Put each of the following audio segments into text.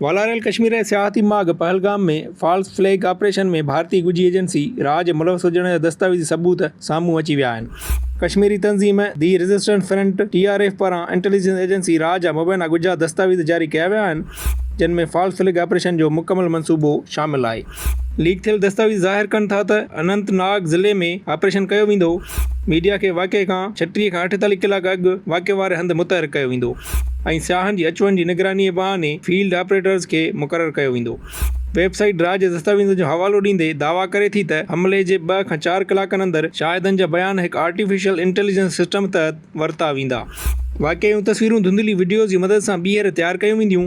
والاريل ڪشمير جي سياحتي ماڳ پهلگام ۾ فالس فليگ آپريشن ۾ ڀارتي ڳجهي ايجنسي را جي ملوث هجڻ جا دستاويزي ثبوت سامهون اچي ويا آهن. ڪشميري تنظيم the resistance front, T R F, پاران انٽيليجنس ايجنسي را جا مبينا ڳجها دستاويز جاري ڪيا ويا آهن، جن ۾ فالس فليگ آپريشن جو مڪمل منصوبو شامل آهي. ليڪ ٿيل دستاويز ظاهر ڪن ٿا ته اننت ناگ ضلعي ۾ آپريشن ڪيو ويندو، ميڊيا کي واقعي کان ڇٽيهه کان اٺيتاليهه ڪلاڪ اڳ واقعي واري هنڌ متحرڪ ڪيو ويندو ۽ سياحن جي اچ وڃ جي نگراني بهاني فيلڊ آپريٽرز کي مقرر ڪيو ويندو. ويب سائيٽ را جي دستاويزن جو حوالو ڏيندي دعويٰ ڪري ٿي ته حملي جي ٻه کان چار ڪلاڪن اندر شاهدن جا بيان هڪ آرٽيفيشل انٽيليجنس سسٽم تحت ورتا ويندا. واقعي اهيون تصويرون ڌنڌلي وڊيوز جي مدد سان ٻيهر تيار ڪيون وينديون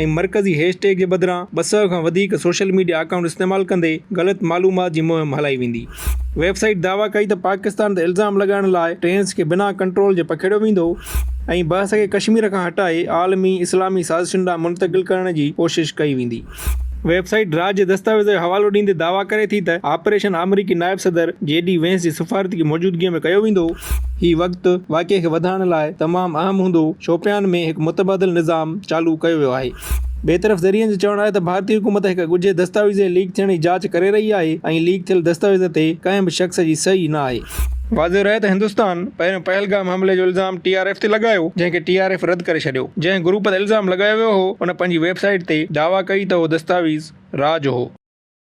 ۽ مرڪزي هيش ٽيگ جي بدران ٻه سئو کان وڌيڪ سوشل ميڊيا اڪائونٽ استعمال ڪندي غلط معلومات جي مهم هلائي ويندي. ويب سائيٽ دعويٰ ڪئي ته پاڪستان تي الزام لڳائڻ لاء ٽرينز کي بنا ڪنٽرول جي پکيڙيو ويندو ۽ بحث کي ڪشمير کان هٽائي عالمي اسلامي سازشن ڏانهن منتقل ڪرڻ جي ڪوشش ڪئي ويندي. ويب سائيٽ را جي دستاويز جو حوالو ڏيندي دعويٰ ڪري ٿي ته آپريشن آمريڪي نائب صدر جي ڊي وينس جي سفارتي موجودگيء ۾ ڪيو ويندو. هي وقت واقعي کي وڌائڻ لاء تمام اهم هوندو، شوپيان ۾ هڪ متبادل نظام چالو ڪيو ويو آهي. ٻئي طرف ذريعن جو چوڻ آهي ته ڀارتي حڪومت هڪ ڳجهي دستاويز جي ليڪ ٿيڻ جي جاچ ڪري رهي آهي ۽ ليڪ ٿيل دستاويزن تي ڪنهن به شخص جي صحيح نه آهي. واضح رهي ته هندستان پهريون پهلگام حملي جو الزام ٽي آر ايف تي لڳايو جنهن کي ٽي آر ايف رد ڪري ڇڏيو. جنهن گروپ تي الزام لڳايو ويو هو ان پنهنجي ويب سائيٽ تي دعويٰ ڪئي ته اهو دستاويز را جو هو.